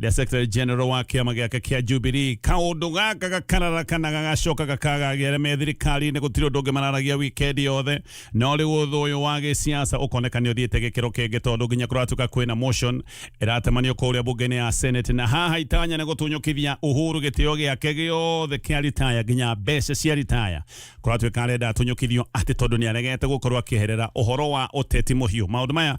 rĩa secretary general wa kĩama gĩake kĩa Jubilee kaũndũ gaka gakararakaga gagacoka gakagagĩra me thirikari-inĩ gũtirĩ ũndũ ũngĩ mararagia wikendi yothe no rĩu ũthũ ũyũ wa gĩsiasa ũkoneka nĩ ũthiĩte gĩkĩro kĩngĩ tondũ nginya kũratuĩka kwĩna motion ĩratemanio kũrĩa bunge-inĩ ya senate na haha itanya nĩ gũtunyũkithia Uhuru gĩtĩo gĩake gĩothe kĩa ritaya nginya mbeca cia ritaya kũratuĩka arenda atunyũkithio atĩ tondũ nĩ aregete gũkorwo akĩherera ũhoro wa ũteti mũhiũ maũndũ maya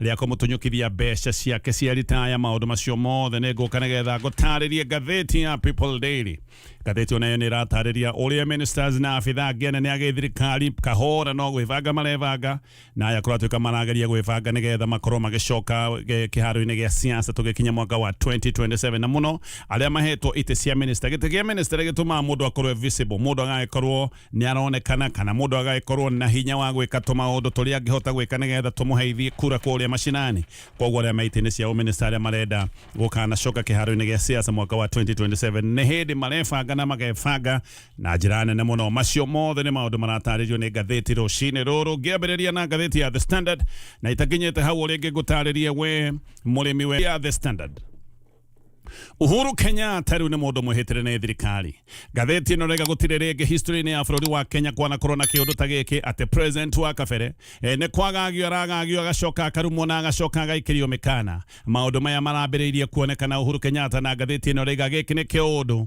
rĩa kũmũtũnyũkithia mbeca ciake cia ritaya maũndũ macio mothe nĩ ngũka nĩgetha ngũtarĩrie ngathĩti ya People Daily ngathĩti onayo nĩ ĩratarĩria ũrĩa ministers na abitha angĩ anene a gĩthirikari kahora no gwĩbanga marebanga na aya kũratuĩka marageria gwĩbanga nĩgetha makorwo magĩcoka eh, kĩharo-inĩ gĩa siasa tũgĩkinya mwaka wa 2027 na mũno arĩa mahetwo itĩ cia minister gĩtĩ gĩa minister gĩtũmaga mũndũ akorwo e visible mũndũ agagĩkorwo Nĩ aronekana kana mũndũ agagĩkorwo na hinya wa gwĩka tũmaũndũ tũrĩa angĩhota gwĩka nĩgetha tũmũheithie kura kũrĩa macinani. Kwoguo arĩa me itĩ-inĩ cia ũmĩnĩcita arĩa marenda gũkanacoka kĩharo-inĩ gĩa Siasa mwaka wa 2027 nĩ hĩndĩ marebanga na magebanga na njĩra nene mũno. Macio mothe nĩ maũndũ maratarĩrio nĩ ngathĩti rũcinĩ rũrũ. Ngĩambĩrĩria na ngathĩti ya The Standard na itakinyĩte hau ũrĩa ingĩgũtarĩria we mũrĩmi we ya The Standard. Uhuru Kenyatta rĩu nĩ mũndũ mwĩhĩtĩre nĩ thirikari ngathĩti ĩno rega gũtirĩ rĩngĩ history-inĩ ya bũrũri wa Kenya kwanakorwo na kĩũndũ ta gĩkĩ atĩ president wa kabere eh, nĩ kwagagio aragagio agacoka akarumwo na agacoka agaikĩrio mĩkana maũndũ maya marambĩrĩirie kuonekana Uhuru Kenyatta na ngathĩti ĩno rega gĩkĩ nĩ kĩũndũ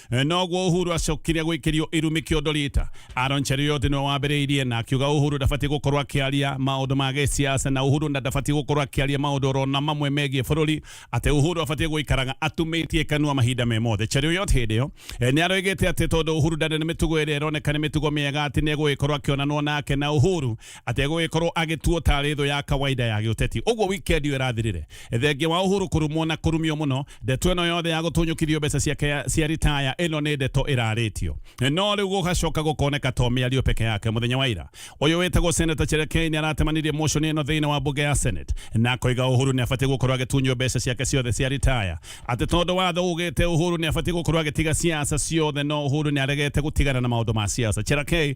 Eh, noguo uhuru acokire gwikirio irumi kiondo rita aron cheriot niwe wambiriirie na akiuga uhuru ndabatiĩ gũkorwo akĩaria maũndũ ma gĩsiasa na uhuru na ndabatiĩ gũkorwo akĩaria maũndũ orona mamwe megiĩ bũrũri atĩ uhuru abatiĩ gũikaraga atumĩtie kanua mahinda me mothe cheriot hĩndĩ ĩyo eh, nĩ aroigĩte atĩ tondũ uhuru ndarĩ na mĩtugo ĩrĩa ĩroneka nĩ mĩtugo mĩega atĩ nĩ egũgĩkorwo akĩonanwo nake na uhuru atĩ egũgĩkorwo agĩtuo tarĩ thũ ya kawaida ya gĩũteti ũguo wikendi ĩyo ĩrathirire thengia wa ũhuru kũrumwo na kũrumio mũno ndeto ĩno yothe ya gũtũnyũkithio mbeca ciake ya- cia ritaya ĩno nĩ ndeto ĩrarĩtio no rĩu gũgacoka gũkoneka to mĩario peke yake mũthenya wa ira ũyũ wĩtagwo seneta cherekei nĩ aratemanirie motion ĩno thĩinĩ wa mbunge ya senate na akoiga ũhuru nĩ abatiĩ gũkorwo agĩtunywo mbeca ciake ciothe cia ritaya atĩ tondũ watho ugĩte ũhuru nĩ abatiĩ gũkorwo agĩtiga siasa ciothe no ũhuru nĩ aregete gũtigana na maũndũ ma siasa cherekei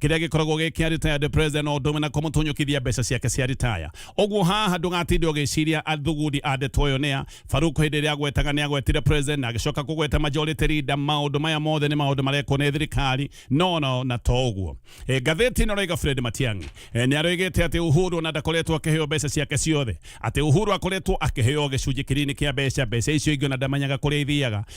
kiria gikoragwo gi kia retired president no ndume na kumutunyukithia mbeca ciake cia retire uguo haha ndugatinde ugiciria athugudi a ndeto uyu nia Farouk hindi iria agwetaga ni agwetire president na agicoka kugweta majority leader maundu maya mothe ni maundu marekwo ni thirikari no no na to uguo e, gatheti ino raiga Fred Matiang'i e, ni aroigite ati Uhuru na ndakoretwo akiheo mbeca ciake ciothe ati Uhuru akoretwo akiheo gicunji kinini kia mbeca mbeca icio ingi na ndamenyaga kuria ithiaga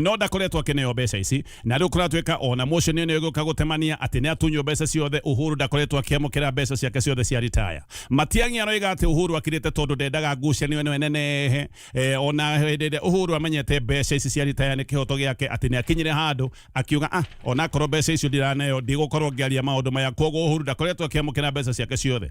no ndakoretwo akineo mbeca ici na riu kuratuika ona motion ino iguka gutemania ati ni atunywo mbeca ciothe uhuru ndakoretwo akiamukira mbeca ciake ciothe cia retire matiangi aroiga ati uhuru akirite tondu ndendaga ngucanio ino enenehe eh, ona hindi iria uhuru amenyete mbeca ici cia retire ni kihoto giake ati ni akinyire handu akiuga ah ona korwo mbeca icio ndiraneo ndigukorwo ngiaria maundu maya koguo uhuru ndakoretwo akiamukira mbeca ciake ciothe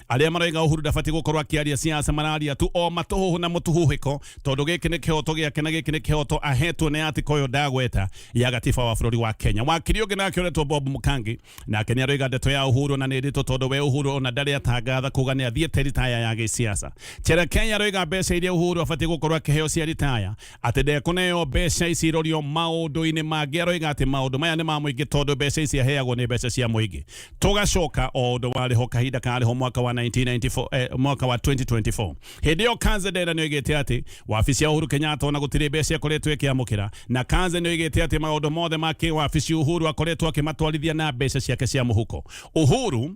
arĩa maroiga Uhuru ndabatiĩ gũkorwo akĩaria siasa mararia tu o matũhũhũ na mũtuhũhĩko tondũ gĩkĩ nĩ kĩhoto gĩake na gĩkĩ nĩ kĩhoto ahetwo nĩ atika ũyũ ndagweta ya gatiba wa bũrũri wa Kenya wakiri ũngĩ nake ũretwo Bob Mũkangi nake nĩ aroiga ndeto ya Uhuru na nĩ ndĩtũ tondũ we Uhuru ona ndarĩ atangatha kuga nĩ athiĩte ritaya ya gĩsiasa Cherekei aroiga mbeca iria Uhuru abatiĩ gũkorwo akĩheo cia ritaya Atĩ ndekũneo mbeca ici irorio maũndũ-inĩ mangĩ aroiga atĩ maũndũ maya nĩ ma mũingĩ tondũ mbeca ici aheagwo nĩ mbeca cia mũingĩ. Tũgacoka o ũndũ warĩ ho kahinda karĩ ho mwaka wa 1994, eh, mwaka wa 2024. Hĩndĩ ĩyo Kanze Ndera nĩ oigĩte atĩ wabici ya Uhuru Kenyatta ona gũtirĩ mbeca ĩkoretwo ĩkĩamũkĩra. Na Kanze nĩ oigĩte atĩ maũndũ mothe ma kĩwabici Uhuru akoretwo akĩmatwarithia na mbeca ciake cia mũhuko. Uhuru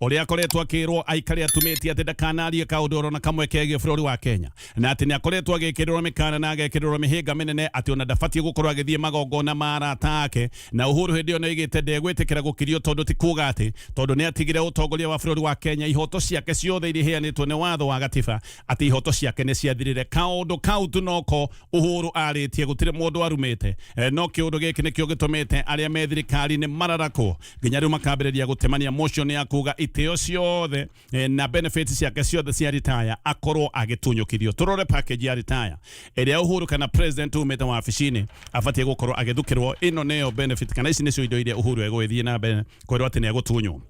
ũrĩa akoretwo akĩrwo aikare atumĩtie atĩ ndakanarie kaũndũ oro na kamwe kegiĩ bũrũri wa Kenya na atĩ nĩ akoretwo agĩkĩrĩrwo mĩkana na agekĩrĩrwo mĩhĩnga mĩnene atĩ ona ndabatiĩ gũkorwo agĩthiĩ magongona ma arata ake na Uhuru hĩndĩ ĩyo nĩ oigĩte ndegwĩtĩkĩra gũkirio tondũ ti kuga atĩ tondũ nĩ atigire ũtongoria wa bũrũri wa Kenya ihoto ciake ciothe iria iheanĩtwo nĩ watho wa gatiba atĩ ihoto ciake nĩ ciathirire kaũndũ kau tu noko Uhuru arĩtie gũtirĩ mũndũ arumĩte Eh, no kĩũndũ gĩkĩ nĩkĩo gĩtũmĩte arĩa me thirikari-inĩ mararakwo nginya riu makambiriria gutemania motion ya kuga itio ciothe eh, na benefits ciake ciothe cia retire akorwo agitunyukithio turore package ya retire iria uhuru kana president umite wabici-ini abatie gukorwo agithukirwo ino niyo benefit kana ici nicio indo iria uhuru egwithie na mbere kwirwo ati niagutunywo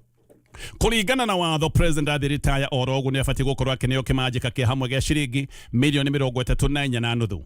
kuringana na watho president athi retire oro uguo ni abatie gukorwo akineo kimanjika kia hamwe gia ciringi milioni mirongo itatu na inya na nuthu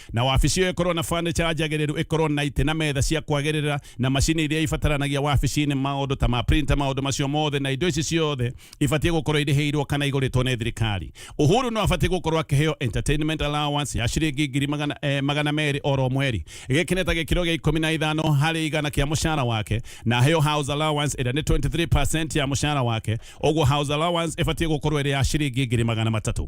na wabici ĩyo ĩkorwo na fanicha njagĩrĩru ĩkorwo na itĩ na metha cia kwagĩrĩra na macini iria ibataranagia wabici-inĩ maũndũ ta ma printer maũndũ macio mothe na indo ici ciothe ibatiĩ gũkorwo irĩhĩirwo kana igũrĩtwo nĩ thirikari uhuru no abatiĩ gũkorwo akĩheo entertainment allowance ya ciringi ngiri magana, eh, magana merĩ oro mweri gĩkĩ nĩ ta gĩkĩro gĩa ikũmi na ithano harĩ igana kĩa mũcara wake na aheo house allowance ĩrĩa nĩ 23% ya mũcara wake ũguo house allowance ĩbatiĩ gũkorwo ĩrĩ ya ciringi ngiri magana matatũ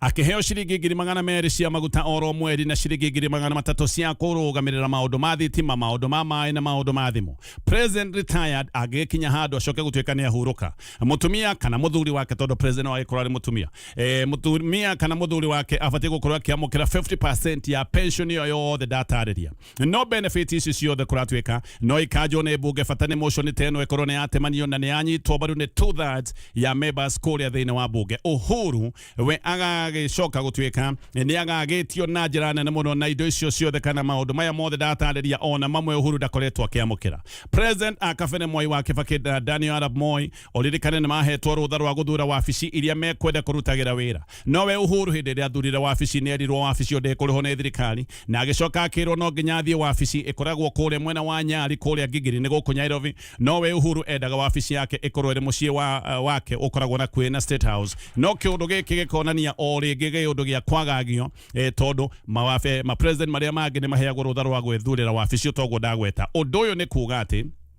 akĩheo ciringi ngiri magana merĩ cia maguta oro mweri na ciringi ngiri magana matatũ cia kũrũgamĩrĩra maũndũ ma thitima maũndũ ma maĩ na maũndũ ma thimũ president retired angĩgĩkinya handũ acoke gũtuĩka nĩ ahurũka mũtumia kana mũthuri wake tondũ president agĩkorwo arĩ mũtumia e, mũtumia kana mũthuri wake abatiĩ gũkorwo akĩamũkĩra 50 ya pension ĩyo yothe ndatarĩria no benefit ici ciothe kuratuika no ikanjwo ni mbunge bata ni motion ta ino ikorwo ni yatemanio na ni yanyitwo mbaru ni two thirds ya members kuria thiini wa mbunge uhuru we agagicoka gutuika ni agagitio na njira nene muno na indo icio ciothe kana maundu maya mothe ndatariria ona mamwe uhuru ndakoretwo akiamukira president akabene mwai wa kibaki na daniel arab moi Ũririkane nĩ mahetwo rũtha rwa gũthura wabici iria mekwenda kũrutagĩra wĩra. Nowe Uhuru hĩndĩ ĩrĩa athurire wabici nĩ erirwo wabici ĩyo ndĩkũrĩhwo nĩ thirikari na agĩcoka akĩrwo no nginya athiĩ wabici ĩkoragwo kũrĩa mwena wa Nyali kũrĩa Gigiri nĩ gũkũ Nyairobi. Nowe Uhuru endaga wabici yake ĩkorwo ĩrĩ mũciĩ wa wake ũkoragwo nakuĩ na State House. No kĩũndũ gĩkĩ gĩkonania o rĩngĩ gĩũndũ gĩa kwagagio tondũ mawabe, ma president marĩa mangĩ nĩ maheagwo rũtha rwa gwĩthurĩra wabici ũtoguo ndagweta. Ũndũ ũyũ nĩ kuga atĩ.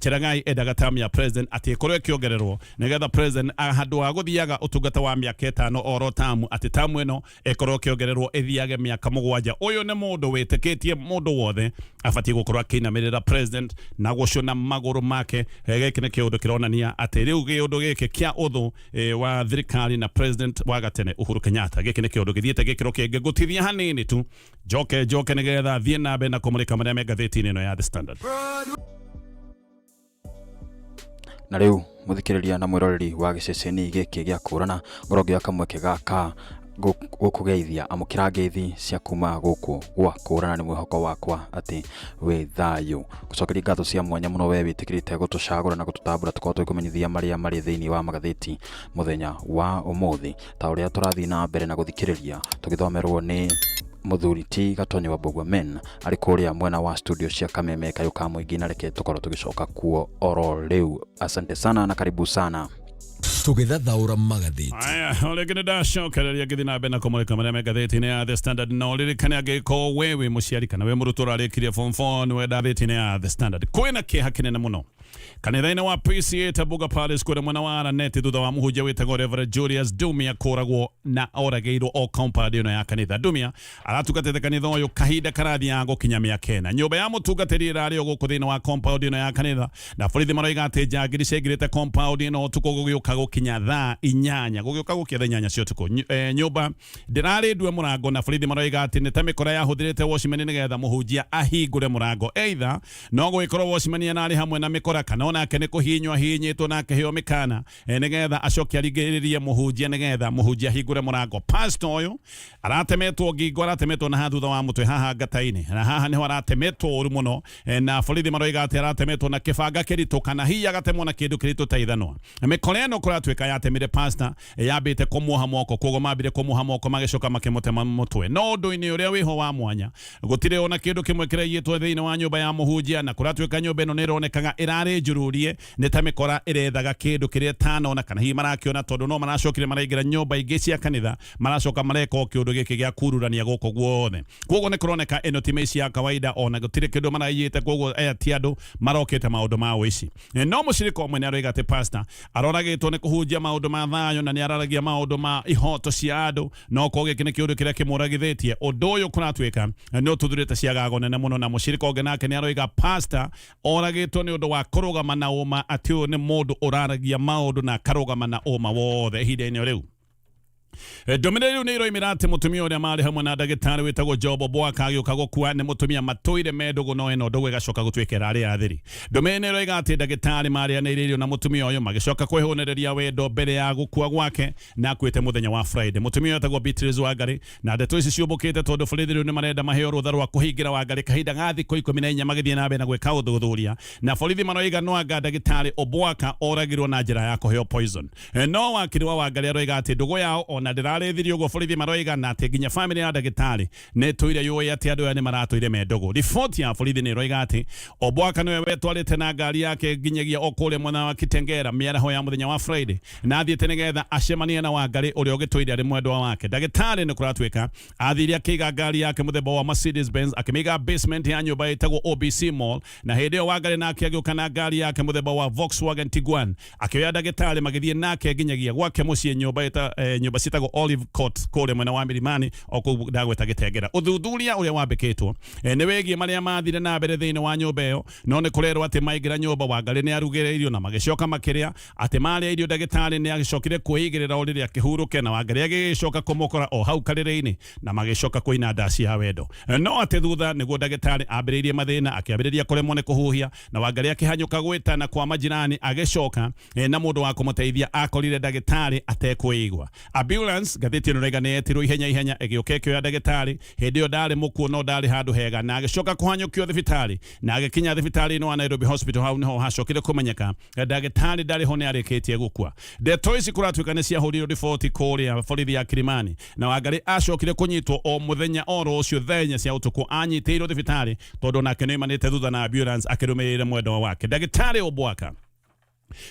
Cherangai endaga tamu ya president atĩ ĩkorwo ĩkĩongererwo nĩgetha president a- handũ wa gũthiaga ũtungata wa mĩaka ĩtano oro tamu atĩ tamu ĩno ĩkorwo ĩkĩongererwo ĩthiage mĩaka mũgwanja ũyũ nĩ mũndũ wĩtĩkĩtie mũndũ wothe abatiĩ gũkorwo akĩinamĩrĩra president na gũcũna magũrũ make Eh, gĩkĩ nĩ kĩũndũ kĩronania atĩ rĩu kĩũndũ gĩkĩ kĩa ũthũ eh, wa thirikari na president wa gatene Uhuru Kenyatta gĩkĩ nĩ kĩũndũ gĩthiĩte gĩkĩro kĩngĩ gũtithia hanini tu njoke njoke nä getha thiä na mbere na kå må rä ka marä a me ngathä-inä ä no ya the standard na rĩu mũthikĩrĩria na mwĩroreri wa gĩceceni gĩkĩ gĩa kũrana ngorwo ngĩoya kamweke gaka gũ- gũkũgeithia amũkĩra ngeithi cia kuma gũkũ gwa kũrana nĩ mwĩhoko wakwa atĩ wĩ thayũ gũcokeria ngatho cia mwanya mũno wee wĩtĩkĩrĩte gũtũcagũra na gũtũtambũra tũkorwo tũgĩkũmenyithia marĩa marĩ thĩinĩ wa magathĩti mũthenya wa ũmũthĩ ta ũrĩa tũrathiĩ na mbere na gũthikĩrĩria tũgĩthomerwo nĩ mũthuri ti gatonyi wa mbũgua men arĩ kũrĩa mwena wa studio cia kameme kayũ ka mũingĩ na reke tũkorwo tũgĩcoka kuo oro rĩu asante sana na karibu sana tũgĩthathaũra magathĩti Aya, rĩngĩ nĩ ndacokereria ngĩthiĩ na mbere na kũmũrĩka marĩa me ngathĩti-inĩ ya The Standard no ririkane angĩkorwo we wĩ mũciari kana we mũrutwo ũrarĩkirie form 4 nĩ wenda thĩti-inĩ ya The Standard kwĩna kĩeha kĩnene mũno kanitha-inĩ wa PCA Tabuga Palace kũrĩa mwena wa Araneti thutha wa mũhunjia wĩtagwo Reverend Julius Dumia kũragwo na oragĩirwo o compound ĩno ya kanitha Dumia aratungatĩte kanitha ũyũ kahinda karathiaga gũkinya mĩaka ĩna nyũmba ya mũtungatĩri ĩrarĩ o gũkũ thĩinĩ wa compound ĩno ya kanitha na borithi maroiga atĩ njangiri ciaingĩrĩte compound ĩno ũtukũ gũgĩũka gũkinya thaa inyanya gũgĩũka gũkinya thaa inyanya cia ũtukũ Ny- eh, nyũmba Ndĩrarĩ ndue mũrango na borithi maroiga atĩ nĩ ta mĩkora yahũthĩrĩte Watchman nĩgetha mũhunjia ahingũre mũrango. Either no gũgĩkorwo Watchman ararĩ hamwe na mĩkora kana onake nĩ kũhihinywo ahihinyĩtwo na akĩheo mĩkana eh, nĩgetha acoke aringĩrĩrie mũhunjia nĩgetha mũhunjia ahingũre mũrango. Pastor ũyũ aratemetwo ngingo, aratemetwo na haha thutha wa mũtwe haha ngata-inĩ, na haha nĩho aratemetwo ũru mũno eh, na borithi maroiga atĩ aratemetwo na kĩbanga kĩritũ kana hihi agatemwo na kĩndũ kĩritũ ta ithanwa. Mĩkora ĩno kũratuĩka yatemire pastor Yambĩte kũmuoha moko, koguo mambire kũmuoha moko magĩcoka makĩmũtema mũtwe. No ũndũ-inĩ ũrĩa wĩho wa mwanya, gũtirĩ ona kĩndũ kĩmwe kĩraiyĩtwo thĩinĩ wa nyũmba ya mũhunjia, na kũratuĩka nyũmba ĩno nĩ ĩronekaga ĩrarĩ njururie, nĩ ta mĩkora ĩrethaga kĩndũ kĩrĩa ĩtanona kana hihi marakĩona, tondũ no maracokire maraingĩra nyũmba ingĩ cia kanitha, maracoka mareka o kĩũndũ gĩkĩ gĩa kururania gũkũ guothe. Koguo nĩ kũroneka ĩno ti mĩici ya kawaida, ona gũtirĩ kĩndũ maraiyĩte, koguo aya ti andũ marokĩte maũndũ ma ũici. Eh, no mũcirika ũmwe nĩ aroiga atĩ pasta aroragĩtwo nĩ kũhunjia maũndũ ma thayũ na nĩ araragia maũndũ ma ihoto cia andũ no ko gĩkĩ nĩ kĩũndũ kĩrĩa kĩmũragithĩtie ũndũ ũyũ kũratuĩka eh, nĩ ũtuthurĩte ciagago nene mũno na mũcirika ũngĩ nake nĩ aroiga pasta oragĩtwo nĩ ũndũ wa kũrũgama na ũma atĩ ũyũ nĩ mũndũ ũraragia maũndũ na akarũgama na ũma wothe ihinda-inĩ o rĩu ndumire riu ni iroimira ati mutumia uria mari hamwe na ndagitari witagwo jobo bwaka agiuka gukua ni mutumia matwire me ndugu no ino ndugu igacoka gutuikira aria athiri ndumire ni iroiga ati ndagitari marianire irio na mutumia uyu magicoka kwihunireria wendo mbere ya gukua gwake na akuite muthenya wa friday mutumia uyu etagwo beatrice wangari na ndeto ici ciumbukite tondu borithi riu ni marenda maheo rutha rwa kuhingira wangari kahinda ga thikå ikå mi na inya magithie na mbere na gwä ka å thuthuria na borithi maroiga no anga ndagitari obwaka oragirwo na njä ra ya kå heo poison Eh, no wakiri wa wangaria roiga ati ndugu yao ona ndirarethiri uguo borithi maroiga na ati nginya family ya ndagitari ni tuire yoi ati andu aya ni maratuire me ndugu riboti ya borithi ni roiga ati obwaka niwe wetwarite na ngari yake nginyagia okuria mwena wa kitengera miaraho ya muthenya wa friday na athiite nigetha acemanie na wangari uria ugituire ari mwendwa wake ndagitari ni kuratuika athire akiga ngari yake muthemba wa mercedes benz akimiga basement ya nyumba itagwo obc mall na hindi iyo wangari nake agiuka na ngari yake muthemba wa volkswagen tiguan akĩoya ndagĩtarĩ magĩthiĩ nake nginyagia gwake mũciĩ nyũmba ĩta- eh, nyũmba ciĩtagwo olive court kũrĩa mwena wa mirimani o kũu ndagweta gĩtengera ũthuthuria ũrĩa wambĩkĩtwo eh, nĩ wĩgiĩ marĩa mathire na mbere thĩinĩ wa nyũmba ĩyo no nĩ kũrerwo atĩ maingĩra nyũmba wangarĩ nĩ arugĩre irio na magĩcoka makĩrĩa atĩ marĩa irio ndagĩtarĩ nĩ agĩcokire kwĩigĩrĩra o rĩrĩa akĩhurũke na wangarĩ agĩgĩcoka kũmũkora o hau karĩrĩ-inĩ na magĩcoka kũina ndaci ya wendo Eh, no atĩ thutha nĩguo ndagĩtarĩ ambĩrĩirie mathĩna akĩambĩrĩria kũremwo nĩ kũhuhia na Wangari akĩhanyũka gwĩtana kwa majirani agĩcoka e, na mũndũ wa kũmũteithia akorire ndagĩtarĩ atekwĩigua. Ambulance ngathĩti ĩno raiga nĩyetirwo ihenya ihenya ĩgĩũka ĩkĩoya ndagĩtarĩ, hĩndĩ ĩyo ndarĩ mũkuũ no ndarĩ handũ hega na agĩcoka kũhanyũkio thibitarĩ na agĩkinya thibitarĩ-inĩ wa Nairobi Hospital. Hau nĩho hacokire kũmenyeka ndagĩtarĩ ndarĩ ho nĩ arĩkĩtie gũkua. Ndeto ici kũratuĩka nĩ ciahũrirwo riboti kũrĩa borithi ya Kilimani na Wangarĩ acokire kũnyitwo o mũthenya oro ũcio thaa inya cia ũtukũ anyitĩirwo thibitarĩ tondũ nake nĩoimanĩte thutha na ambulance akĩrũmĩrĩire mwendwa wake ndagĩtarĩ Obwaka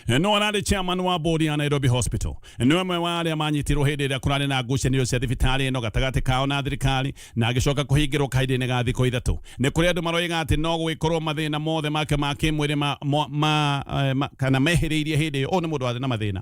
no ararĩ chairman wa bodi ya Nairobi Hospital nĩ ũmwe wa arĩa manyitirwo hĩndĩ ĩrĩa kũrarĩ na ngucanio cia thibitarĩ ĩno gatagatĩ kao na thirikari na agĩcoka kũhingĩrwo kahinda-inĩ ga thikũ ithatũ nĩ kũrĩ andũ maroiga atĩ no gũgĩkorwo mathĩna mothe make ma kĩmwĩrĩ ma, ma, ma, eh, ma, kana mehĩrĩirie hĩndĩ ĩyo ũyũ nĩ mũndũ warĩ na mathĩna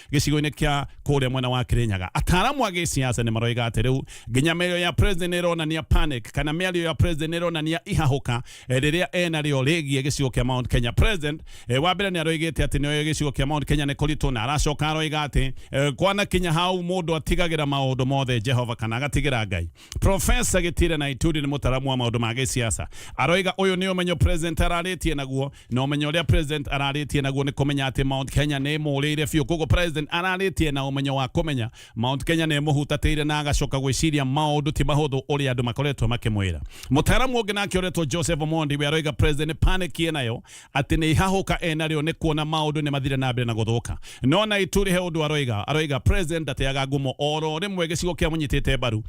gĩcigo-inĩ kĩa kũrĩa mwena wa Kirinyaga. Ataaramu a gĩsiasa nĩ maroiga atĩ rĩu nginya mĩario ya president ĩronania panic kana mĩario ya president ĩronania ihahũka eh, rĩrĩa ena rĩo rĩgiĩ gĩcigo kĩa Mount Kenya. President eh, wa mbere nĩ aroigĩte atĩ nĩoĩ gĩcigo kĩa Mount Kenya nĩ kũritũ na aracoka aroiga atĩ eh, kwanakinya hau mũndũ atigagĩra maũndũ mothe Jehova kana agatigĩra Ngai. Profesa Gitire na Ituri nĩ mũtaramu wa maũndũ ma gĩsiasa aroiga ũyũ nĩ ũmenyo president ararĩtie naguo na umenyo uria president araritie naguo ni kumenya ati Mount Kenya ni murire biu koguo president araritie na umenyo wa kumenya Mount Kenya ni muhutatire na agacoka gwiciria maundu ti mahuthu uria andu makoretwo makimwira mutaramu ungi nake uretwo Joseph Omondi we aroiga president panic nayo ati ni ihahuka enario ni kuona maundu ni mathire na mbere na guthuka no na ituri he undu aroiga aroiga president ndateaga ngumo oro rimwe gicigo kia munyitite mbaru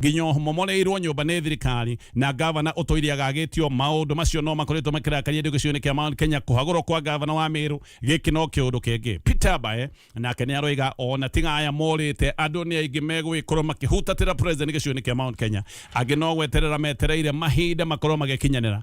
nginya momoreirwo nyũmba nĩ thirikari na ngavana ũtũire agagĩtio maũndũ macio no makoretwo makĩrakaria andũ gĩcigo-inĩ kĩa Mount Kenya kũhagũrwo kwa ngavana wa Meru gĩkĩ no kĩũndũ kĩngĩ Peter Bae nake nĩ aroiga ona tiga aya morĩte andũ nĩ aingĩ megũgĩkorwo makĩhutatĩra president gĩcigo-inĩ kĩa Mount Kenya angĩ no gweterera metereire mahinda makorwo magĩkinyanĩra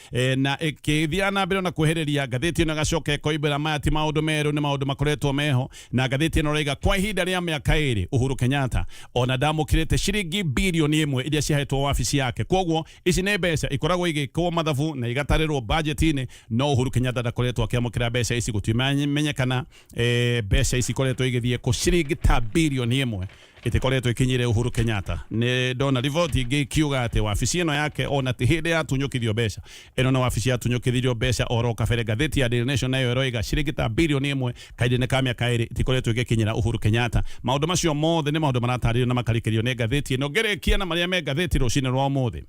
e, na ĩkĩthiaga na mbere na kwehereria ngathĩti ĩno ĩgacoka ĩkoimbĩra maya ti maũndũ merũ nĩ maũndũ makoretwo meho na ngathĩti ĩno raiga kwa ihinda rĩa mĩaka ĩrĩ Uhuru Kenyatta ona ndamũkĩrĩte ciringi birioni ĩmwe iria ciahetwo wabici yake kwoguo ici nĩ mbeca ikoragwo igĩkwo mathabu na igatarĩrwo bajeti-inĩ no Uhuru Kenyatta ndakoretwo akĩamũkĩra mbeca ici gũtimenyekana e, mbeca ici ikoretwo igĩthiĩ kũ ciringi ta birioni ĩmwe ĩtĩkoretwo ĩkinyĩre Uhuru Kenyatta. Nĩ ndona riboti ingĩ ikiuga atĩ wabici ĩno yake ona ti hĩndĩ yatunyũkithio mbeca. Ĩno nĩ wabici yatunyũkithirio mbeca oro kabere. Ngathĩti ya Daily Nation nayo ĩroiga ciringi ta birioni ĩmwe kahinda-inĩ ka mĩaka ĩrĩ itikoretwo igĩkinyĩra Uhuru Kenyatta. Maũndũ macio mothe nĩ maũndũ maratarĩrio na makarĩkĩrio nĩ ngathĩti ĩno. Ngĩrĩkia na marĩa me ngathĩti rũcinĩ rwa ũmũthĩ.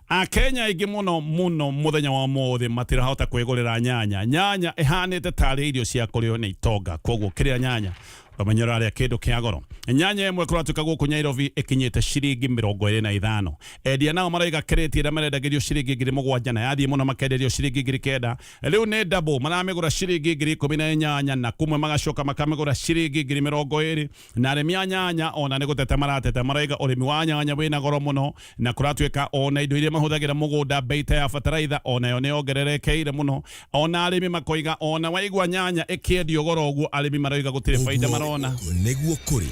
a kenya aingĩ mũno mũno mũthenya wa mũthĩ matirahota kwĩgũrĩra nyanya nyanya ĩhanĩte tarĩ irio cia kũrĩo nĩ itonga koguo kĩrĩa nyanya ũramenye ũrarĩa kĩndũ kĩa goro nyanya ĩmwe kũratuĩka gũkũ nyairobi ĩkinyĩte ciringi mĩrongo ĩrĩ na ithano endia nao maraiga kĩrĩti ĩrĩa marendagĩrio ciringi ngiri mũgwanja na yathiĩ mũno makenderio ciringi ngiri kenda rĩu nĩ double maramĩgũra ciringi ngiri ikũmi na inyanya na kumwe magacoka makamĩgũra ciringi ngiri mĩrongo ĩrĩ na arĩmi a nyanya ona nĩ gũtete maratete maraiga ũrĩmi wa nyanya wĩna goro mũno na kũratuĩka ona indo iria mahũthagĩra mũgũnda mbei ta ya bataraitha onayo nĩ yongererekeire mũno ona arĩmi makoiga ona waigua nyanya ĩkĩendio goro ũguo arĩmi maroiga gũtirĩ baida marona nĩguo kũrĩ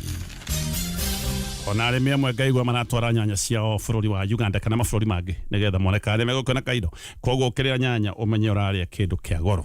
ona arĩmi amwe ngaigua maratwara nyanya ciao bũrũri wa Uganda kana mabũrũri mangĩ nĩgetha mone kana nĩ megũkĩona kaindo koguo ũkĩrĩa nyanya ũmenye ũrarĩa kĩndũ kĩa goro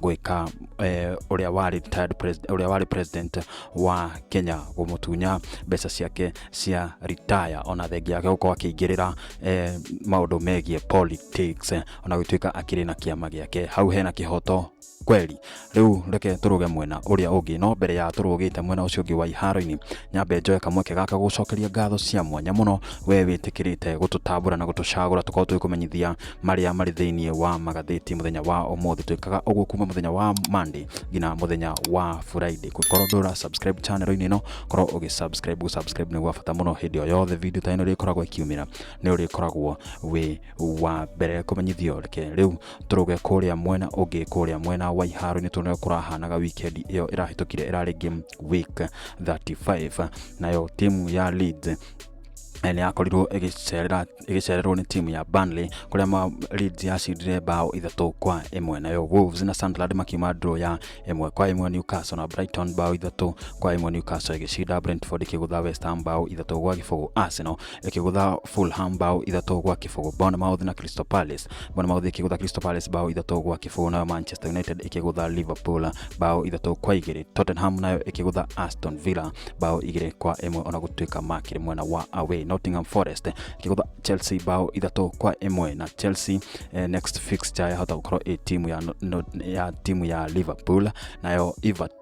gwĩka eh, ũrĩa warĩ retired president- ũrĩa warĩ president wa Kenya gũmũtunya mbeca ciake cia retire ona thengia yake gũkorwo akĩingĩrĩra eh, maũndũ megiĩ politics eh, ona gũtuĩka akĩrĩ na kĩama gĩake hau hena kĩhoto kweli rĩu reke tũrũge mwena ũrĩa ũngĩ no mbere ya tũrũgĩte mwena ũcio ũngĩ wa iharo-inĩ nyambe njoe kamweke gaka gũcokeria ngatho cia mwanya mũno we wĩtĩkĩrĩte gũtũtambũra na gũtũcagũra tũkorwo tũgĩkũmenyithia marĩa marĩ thĩinĩ wa magathĩti mũthenya wa ũmũthĩ twĩkaga ũguo kuma mũthenya wa Monday nginya mũthenya wa Friday korwo ndũra subscribe channel inĩ ĩno korwo ũgĩ subscribe gũ subscribe nĩ gwa bata mũno hĩndĩ o yothe video ta ĩno ĩrĩkoragwo ĩkiumĩra nĩ ũrĩkoragwo wĩ wa mbere kũmenyithio reke rĩu tũrũge kũrĩa mwena ũngĩ kũrĩa mwena wa iharo nĩ tuone kũrahanaga weekend ĩyo ĩrahĩtũkire ĩrarĩ game week 35 nayo timu ya Leeds nĩ yakorirwo ĩgĩcerera ĩgĩcererwo nĩ timu ya Burnley kũrĩa ma Leeds yacindire bao ithatũ kwa ĩmwe nayo Wolves na Sunderland makiuma draw ya ĩmwe kwa ĩmwe Newcastle na Brighton bao ithatũ kwa ĩmwe Newcastle ĩgĩcinda Brentford ĩkĩgũtha West Ham bao ithatũ gwa gĩbũgũ Arsenal ĩkĩgũtha Fulham bao ithatũ gwa kĩbũgũ Bournemouth na Crystal Palace Bournemouth ĩkĩgũtha Crystal Palace bao ithatũ gwa kĩbũgũ nayo Manchester United ĩkĩgũtha Liverpool bao ithatũ kwa igĩrĩ Tottenham nayo ĩkĩgũtha Aston Villa bao igĩrĩ kwa ĩmwe ona gũtuĩka makĩrĩ mwena wa away Nottingham Forest ĩkĩgũtha Chelsea bao ithatũ kwa ĩmwe na Chelsea eh, next fixture yahota gũkorwo ĩ timu ya, no, no, ya timu ya Liverpool nayo Everton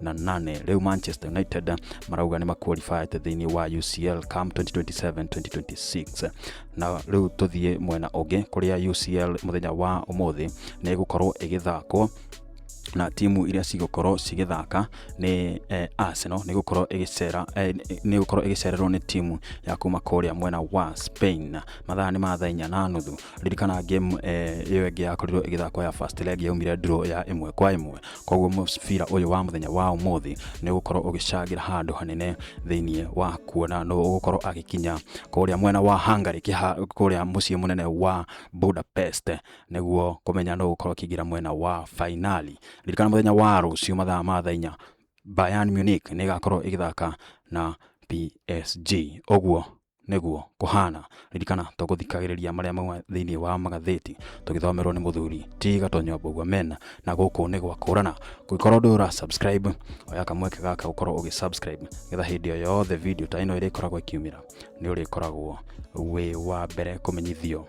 na nane rĩu manchester united marauga nĩ maqualified thĩinĩ wa ucl cam 2027-2026 na rĩu tũthiĩ mwena ũngĩ kũrĩa ucl mũthenya wa ũmũthĩ nĩ ĩgũkorwo ĩgĩthakwo na timu iria cigũkorwo cigĩthaka nĩ eh, Arsenal nĩ gũkorwo ĩgĩcera eh, nĩ gũkorwo ĩgĩcererwo nĩ timu ya kuma kũrĩa mwena wa Spain mathaa nĩ ma thaa inya na nuthu ririkana game eh, ĩyo ĩngĩ yakorirwo ĩgĩthakwo ya first leg yaumire draw ya ĩmwe kwa ĩmwe koguo mũbira ũyũ wa mũthenya wa ũmũthĩ nĩ ũgũkorwo ũgĩcangĩra handũ hanene thĩinĩ wa kuona nũ ũgũkorwo agĩkinya kũrĩa mwena wa Hungary kĩha kũrĩa mũciĩ mũnene wa Budapest nĩguo kũmenya nũ ũgũkorwo akĩingĩra mwena wa fainali ririkana mũthenya wa rũciũ mathaa ma thaa inya Bayern Munich nĩ ĩgakorwo ĩgĩthaka na PSG ũguo nĩguo kũhana ririkana tũgũthikagĩrĩria marĩa mauma thĩinĩ wa magathĩti tũgĩthomerwo nĩ mũthuri ti gatonyo mbũgua mena na gũkũ nĩ gwa kũrana kũngĩkorwo ndũ ũra subscribe oya kamweke gaka gũkorwo ũgĩ subscribe getha hĩndĩ o yothe video ta ĩno ĩrĩkoragwo ĩkiumĩra nĩ ũrĩkoragwo wĩ wa mbere kũmenyithio